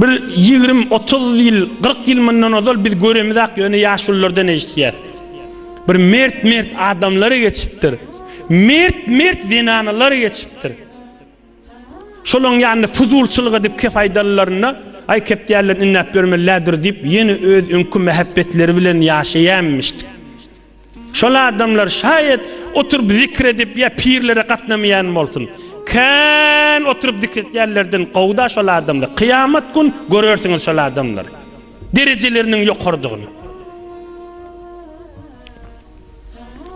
Bir ýigrim, otuz ýyl, kyrk ýyl mundan ozal biz göremizak, ýöne ýaşulylardan eşitýäs. Bir mert-mert adamlar geçipdir. Mert-mert zenanalar geçipdir. Şolaryň ýanynda fuzulçylyk edip kep aýdanlarynda, Aý, kep diýerler, ünnäp ýörmeli-lä dur diýip, ýene öz öňki mähebbetleri bilen ýaşaýanmyşdyk. Şol adamlar şaýat oturyp zikr edip ýa pirlere gatnamaýan bolsun. Kän oturyp zikr etýänlerden gowy-da şol adamlar. Kyýamat gün görersiňiz şol adamlar derejeleriniň ýokarydygyny.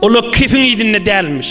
Olar kefiň yzynda dälmiş.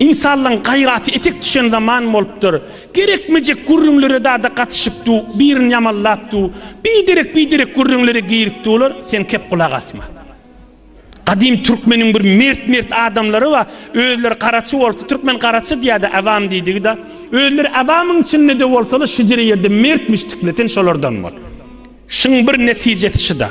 Ynsanlaň gaýraty etek düşen zaman bolupdyr. Gerekmejek gürrüňlere dada gatyşyp du, birini ýamanlap du, biderek-biderek gürrüňlere girip dular, sen kep gulak asma. Gadym türkmeniň bir mert-mert adamlary bar, özleri garaçy bolsa, türkmen garaçy diýýärdi, awam diýdigi-da. Özleri awamyň içinde-de bolsalar, şüjre ýerde mert müşdükler, sen şolardan bol. Şuň bir netijesi şuda.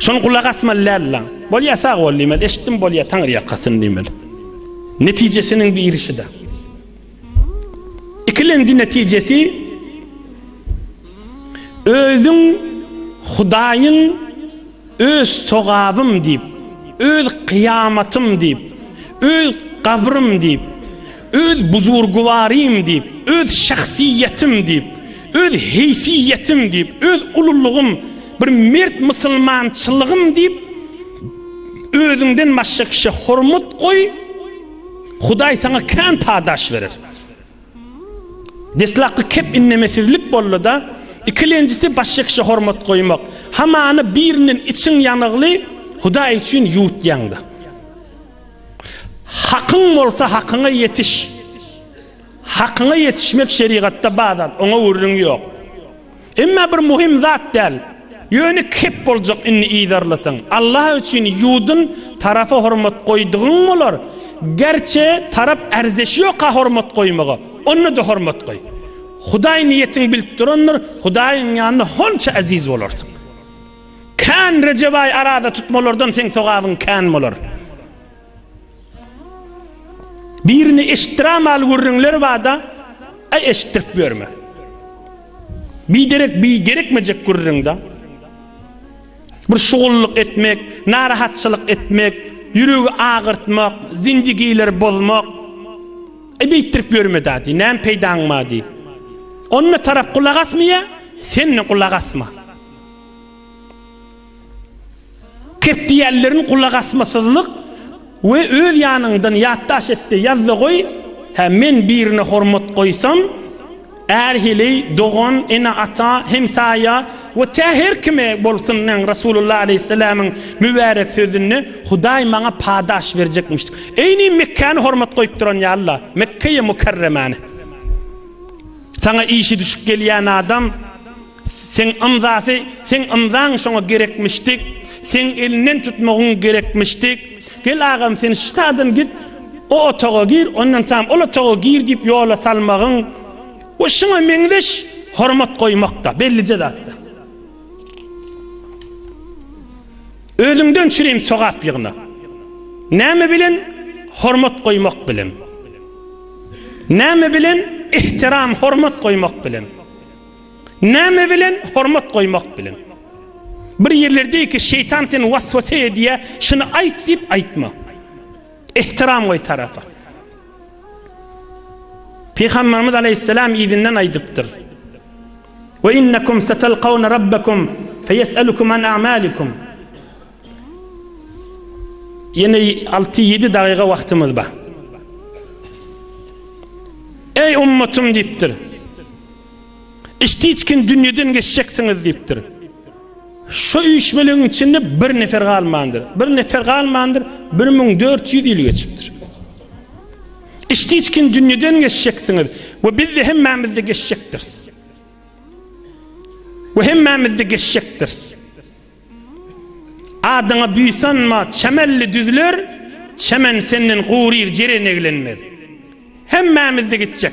Şony gulak asmaly däldiler. Bolýa sag bol diýmeli, eşitdim bolýa taňry ýakasyn diýmeli. Netijesiniň birişi-de. Ikilenji netijesi özüň Hudaýyň öz sogabym diýip, öz kyýamatym diýip, öz gabrym diýip, Öz buzurgwarym diýip, öz şahsyýetim diýip, öz heýsiýetim diýip, öz ululygym, bir mert musulmançylygym diýip, özüňden başga kişä hormat goý, Hudaý saňa kän padaş berer. Deslapky kep innemesizlik boldy-da, ikilenjisi başga kişä hormat goýmak. Hamany birinden içiň ýanygly Hudaý üçin ýuwutýaň-da. Hakyň bolsa hakyňa ýetiş. Hakyňa ýetişmek şerigatda bar zat, oňa gürrüň ýok. Emma bir muhim zat däl. Ýöne kep boljak indi yzarlasaň. Allah üçin ýudun tarapa hormat goýdugyň bolar. Gerçe tarap erzeşi ýoka hormat goýmaga. Onda-da hormat goý. Hudaý niýetiňi bilip durandyr, Hudaýyň ýanynda honça eziz bolarsyň. Kän Rejebaý araza tutmalardan seň sogabyň kän bolar. Birini eşitdiramaly gürrüňler bada a eşitdirip ýörme. Biderek bir gerekmejek gürrüňda bir şugullyk etmek, narahatçylyk etmek, ýüregi agyrtmak, zindigileri bozmak a beýtdirip ýörme da diý, näme peýdaň bar diý. Onda tarap gulak asmaýa, sen de gulak asma. Kep diýýänlerin gulakasmasyzlyk we öz ýanyňdan ýatdaş etde ýazda goý, hä men birine hormat goýsam, är heleý, dogan, ene ata, hemsaýa we tä her kime bolsun näň Rasulullah aleýhissalamyň mübärek sözünde Hudaý maňa padaş berjekmiş. Eýni Mekkäni hormat goýup duran ýalyla, Mekkeýi Mukarremäni. Saňa işi düşüp gelýän adam. Seň ymzasy seň ymzaň şoňa gerekmişdik seň elinden tutmagyň gerekmişdik gel agam sen ştadan git o otaga gir ondan tam ol otaga gir diýip ýola salmagyň we şuňa meňzeş hormat goýmakda bellije zatda özüňden çürim sogap ýygna näme bilen hormat goýmak bilen näme bilen ihtiram hormat goýmak bilen Näme bilen? Hormat goýmak bilen. Bir ýerler diýdi ki, şeýtan seni waswasa edýä, şuny aýt diýip aýtma. Ehtiram goý tarapa. Pygamberimiz aleýhissalam yzyndan aýdypdyr. Ve innekum satalqawna rabbakum feyesalukum an a'malikum. Ýene 6-7 dagyga wagtymyz bar. Ey ummatym diýipdir. Iç-tiçkin dünýeden geçjeksiňiz diýipdir. Şu üýşmelegiň içinde bir nefer galmandyr. Bir nefer galmandyr, 1400 ýyl geçipdir. Iç-tiçkin dünýeden geçjeksiňiz we biz de hemmämiz-de geçjekdiris. We hemmämiz-de geçjekdiris. Adyňa buýsanma, çemelli düzler, çemen senden guryr, jeren eglenmez. Hemmämiz-de gitjek.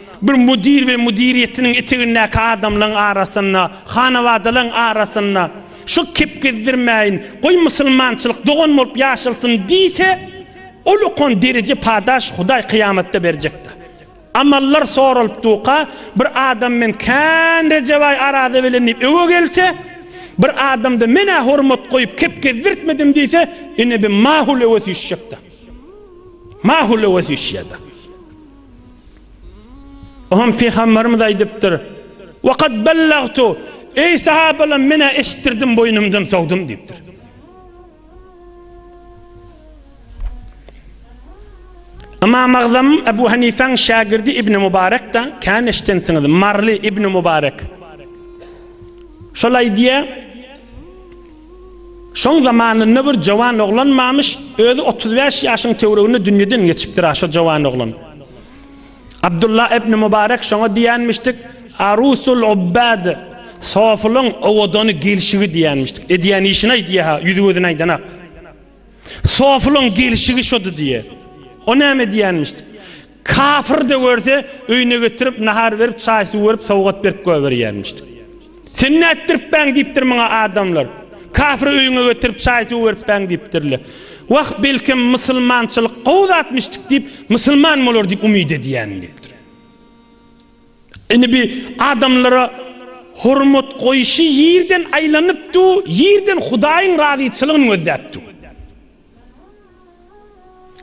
Bir müdir we müdiriýetiniň etegindäki adamlaň arasynda, hanabadalaň arasynda şol kepgezdirmäýin, goý musulmançylyk dogan bolup ýaşalsyn diýse, ol okan dereje padaş Hudaý kyýamatda berjekde. Amallar soralyp duka, bir adam men kän Rejebaý araza bilen diýip öwe gelse, bir adamda men-ä hormat goýup kepgezdirtmedim diýse, ine bi mahul öwe süýşjekde. Mahul öwe süýşýärde. Oňam Pygamberimiz aýdypdyr, Waqad bellagtu, eý sahabalam men-ä eşitdirdim boýnumdan sowdum diýipdir. Ymam Agzam Ebu Hanifäň şägirdi Ibn Mubarekde kän eşitensiňiz, Marly Ibn Mubarek. Şol aýdýar, Şoň zamanynda bir jowan oglan mamyş, özi otuz bäş ýaşyň töwreginde dünýeden geçipdir-a şo jowan oglan. Abdulla ibn Mubarek şoňa diýenmişdik, Arusul ubbad, sofylyň owadany gelşigi diýenmişdik. Edýän işin-aý diýä-ha, ýüzi-gözüni aýdanak. Sofylyň gelşigi şody diýä. O näme diýenmişdik? Kafir-de görse, öýüne getirip, nahar berip, çaý-suw berip, sowgat berip goýberýärmişdi. Sen nätdiripbäň? diýipdir muňa adamlar. Kafiri öýüňe getirip, çaý-suw beripbäň diýipdirler. Wah, belkem, musulmançylyk gowy zatmyşdyk diýip, musulman bolar diýip umyt edýärin diýipdir. Indi bi adamlara hormat goýşy ýerden aýlanypdy, ýerden Hudaýyň razyçylygyny gözläpdi.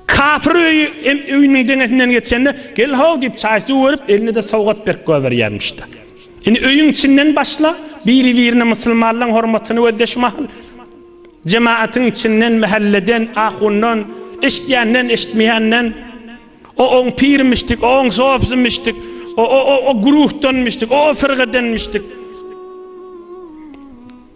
Kapyr öýi hem öýüniň deňesinden geçende, Gel-how! diýip, çaý-suw berip, elinde-de sowgat berk goýberýärmiş-de. Indi öýüň içinden başla, biri-birine musulmanlaryň hormatyny gözdeş mahaly, jematyň içinden, mähelleden, ahundan, eşidýänden, eşitmeýänden, O-oň pirmişdik, o-oň sopysimmişdik, o-o-o-o guruhdanmyşdyk, o-o firgadenmişdik.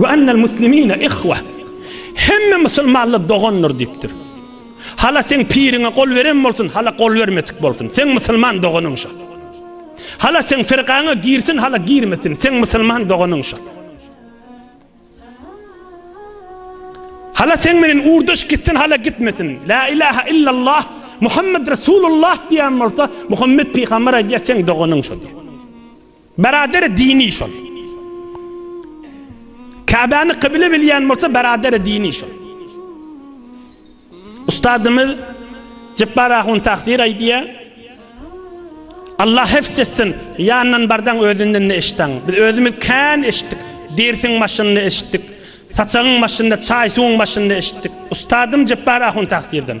Ve ennel muslimine ihweh, hemme musulmanlar dogandyr diýipdir. Hala seň piriňe gol beren bolsun, hala gol bermedik bolsun, seň musulman doganyň şol. Hala seň firgaňa girsin, hala girmesin, seň musulman doganyň şol. Hala seň menen ugrdaş gitsin, hala gitmesin, la ilahe illallah, Muhammed Resulullah diýen bolsa, Muhammed pygamber aýdýar, seň doganyň şol. Beraderi dini şol. Käbäni kybile bilýän bolsa beraderi dini şol. Ustadymyz Jepbar Ahun Takdir aýdýar. Allah hefs etsin, ýandan bardan özünden ne eşitdin? Biz özümiz kän eşitdik. Dersiň başynda eşitdik. Saçagyň başynda, çaý suwuň başynda eşitdik. Ustadym Jepbar Ahun Takdirden.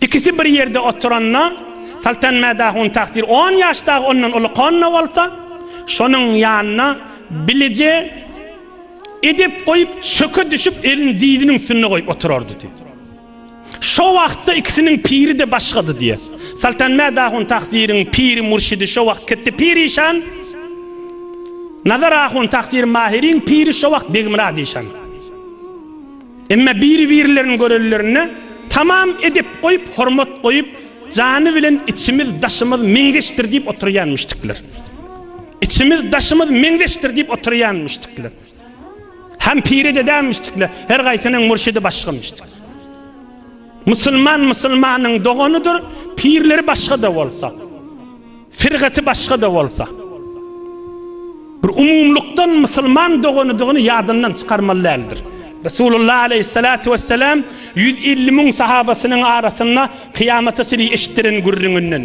Ikisi bir ýerde oturanda, Saltan Mäda hun tagsyr on ýaş dagy ondan uly konno bolsa, şonuň ýanyna bilije edep goýup, çöke düşüp, elini dyzynyň üstünde goýup oturardy diýýär. Şo wagtda ikisiniň piri-de başgady diýýär. Saltan Mäda hun tagsyryň piri-mürşidi şo wagt Ketdi pir işan, Nazar ahun tagsyr Mahiriň piri şo wagt Begmyrat işan. Emma biri-birlerini görenlerinde tamam edep goýup, hormat goýup, jany bilen içimiz, daşymyz meňzeşdir diýip oturýanmyşdyklar. Içimiz, daşymyz meňzeşdir diýip oturýanmyşdyklar. Hem piri dedämmişdikler, her gaýsynyň murşidi başgamyşdyk. Musulman musulmanyň doganydyr, pirleri başga-da bolsa. Firgaty başga-da bolsa, bir umumlykdan musulman doganydygyny ýadyndan çykarmaly däldir. Resulullah aleýhissalatu wesselam ýüz elli müň sahabasynyň arasynda kyýamata çenli eşitdiren gürrüňinden.